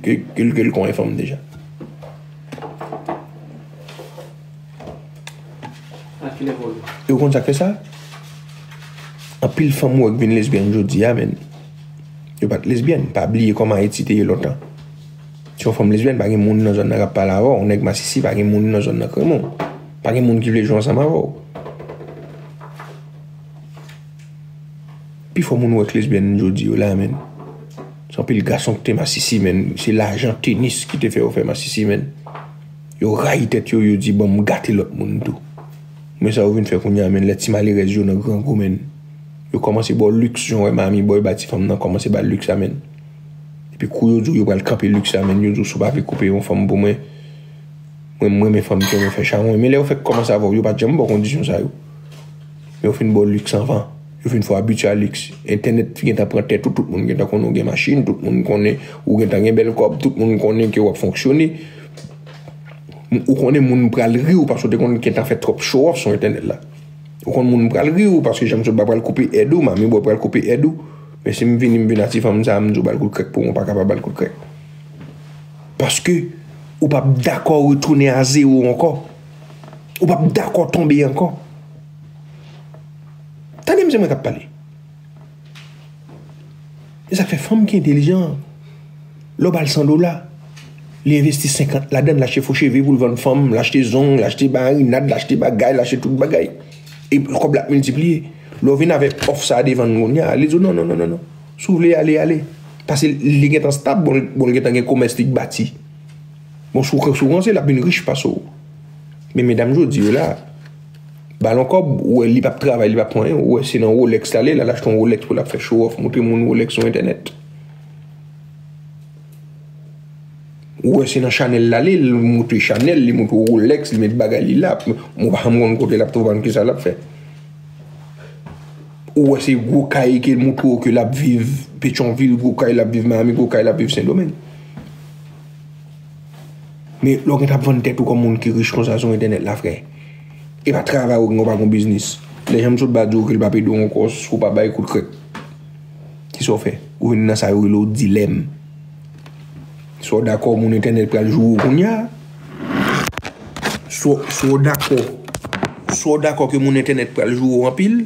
Ke l konnen fanm l deja. E w konn sa k fè sa? Anpil fanm ou wè k vin lesbyèn jodi a men. Yo pa t lesbyèn. Pa bliye kòman Ayiti te ye lontan. Si w fanm lesbyèn pa gen moun nan zòn nan k ap pale avè w. Yon nèg masisi pa gen moun nan zòn nan k renmen w. Pa gen moun ki vle jwe ansanm avè w. Pifò moun ou wè k lesbyèn jodi yo la men. Son pil gason ki te masisi menn se lajan tenis ki te fè yo fè masisi menn yo rayi tèt yo yo di bon m gate lòt moun tou men sa yo vin fè kounya menn lè ti malerèz yo nan grangou menn yo kòmanse ba w liks jan w wè Mami Boy ba ti fanm nan kòmanse ba l liks sa menn epi kou yo di w yo pral kanpe liks sa menn yo di w si w pa vle koupe yon fanm pou mwen mwen m renmen fanm ki renmen fè chawony men lè yo fèk kòmanse avè w yo pa janm ba w kondisyon sa yo men yo fin ba w liks anvan. Yo fin fò abitye a liks. Entènèt gen tan pran tèt ou, tout moun gen tan konnen ou gen machin, tout moun konnen ou gen tan gen bèl kòb, tout moun konnen ke w ap fonksyone. Ou konnen moun pral ri w paske w te konn gen tan fè twòp show off sou entènèt la. Ou konnen moun pral ri w paske Janm Soba pral koupe èd ou, Manmi Bò pral koupe èd ou. Men si m vini m vin a ti fanm sa a, m di w ba l kout krèk pou mwen, ou pa ka pa ba l kout krèk. Paske ou p ap dakò retounen a zewo ankò. Ou p ap dakò tonbe ankò. Tande msye mwen kap pale. E sak fè fanm ki entelijan an. Lè w bal 100 dola, li envesti 50 ladann l achte fo cheve pou l vann fanm, l achte zong, l achte marinad, l achte bagay, l achte tout bagay. E kòb la ap miltipliye. Lè w vin avèk òf sa devan l kounye a, li di w non non non non non. Si w vle ale ale. Pase li gen tan stab bon li gen tan gen komès li k bati. Bon si w ranse l ap vin rich pase w. Men medam jodi yo la. Balon kòb, ou wè li pap travay, li pap pran anyen, ou wè se nan Rolex l ale, l al achte yon Rolex pou l ap fè show off, montre moun Rolex sou entènèt. Ou wè se nan Chanel l ale, li montre Chanel, li montre w Rolex, li met bagay li la, mwen pa janm konn kote l ap twouve ann ki sa l ap fè. Ou wè se gwo kay ke l montre w ke l ap viv Petyonvil, gwo kay l ap viv Miami, gwo kay l ap viv Sendomeng. Men lè w gen tan ap vann tèt ou kòm moun ki rich konsa sou entènèt la frè E pa travay ou gen ou pa gon biznis Lè jan m sot ba di w ke l pa p ede w ankò si w pa bay kout krèk Ki sa w fè? Ou vin nan sa yo rele w dilèm Swa w dakò moun entènèt pral joure w kounya Swa w dakò Swa w dakò ke moun entènèt pral joure w anpil.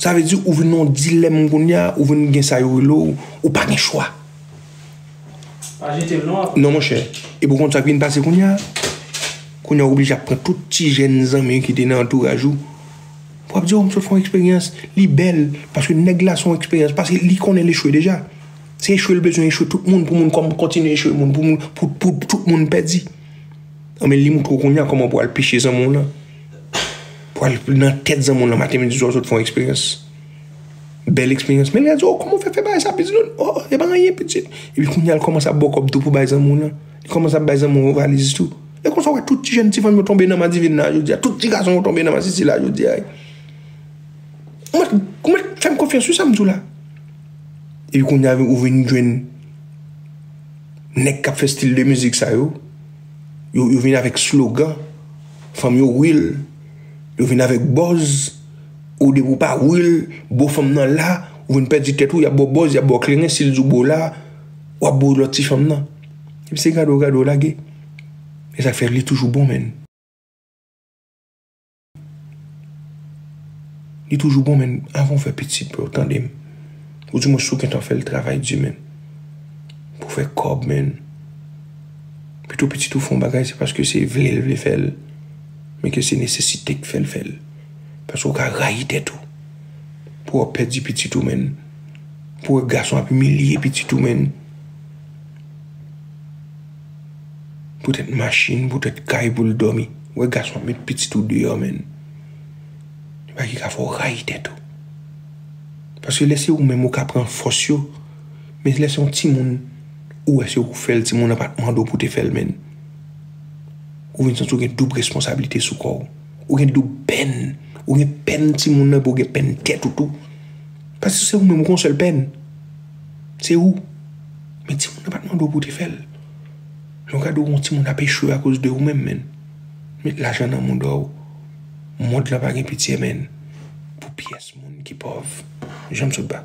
Sa vle di ou vin nan yon dilèm kounye a, ou vin gen sa yo rele w, ou pa gen chwa. Pa jete l non apre. Non monchè. Epi ou konn sa k vin pase kounye a? Kounye a ou oblije ap pran tout ti jèn zanmi w ki te nan antouraj ou pou ap di w m sot fè yon eksperyans, li bèl. Paske nèg la se yon eksperyans, paske li konnen l echwe deja. Se echwe l bezwen echwe tout moun pou moun kòm kontinye echwe moun pou moun pou tout moun pèdi. Anben li moutre w kounye a kòman pou al peche zanmi w lan. Pwal nan tèt zanmi w lan maten midi swa sot fon eksperyans. Bèl eksperyans men li di w kouman w fè fè bagay sa pitit lan. O e pa anyen pitit. Epi kounya l kòmanse ap ba w kòb tou pou bay zanmi w lan. Li kòmanse ap bay zanmi w lan valiz tou. E konsa w wè tout ti jèn ti fanm yo tonbe nan madivin la jodi a. Tout ti gason yo tonbe nan masisi la jodi a. Ou mèt fè m konfyans sou sa m di w la. Epi kounya ou vin jwenn nèg k ap fè stil de mizik sa yo. Yo vin avèk slogan. Fanm yo real Yo vin avèk bòz ou depi ou pa real bo fanm nan la ou vin pèdi tèt ou yap baw bòz yap baw kleren sil di w bo la wap bo lòt ti fanm nan epi se gade w gade w lage se sak fè li toujou bon menn li toujou bon menn avan w fè pitit bro tande m ou di mwen si w gentan fè l travay di menn pou fè kòb menn. Pito pitit ou fè yon bagay se paske se vle l vle fè l, men ke se nesesite k fè l fè l. Paske ou ka rayi tèt ou pou wè w ap pèdi pitit ou menn, pou wè gason ap imilye pitit ou menn. Poutèt machin, poutèt kay pou l dòmi. Wè gason ap met pitit ou deyò menn. Se bagay ki ka fè w rayi tèt ou. Paske lè se ou menm ou ka pran fòs yo. Men lè se yon timoun ou wè se ou k fèl timoun nan pat mandew pou te fèl menn ou vin santi ou gen doub responsablite sou kòw ou gen doub pèn ou gen pèn timoun nan epi ou gen pèn tèt ou tou paske se ou menm ou gen yon sèl pèn se ou men timoun nan pat mandew pou te fèl lè ou gade yon timoun ap echwe akoz de ou menm menn met lajan nan moudòw mond lan pa gen pitye menn pou pyès moun ki pòv janm sot ba.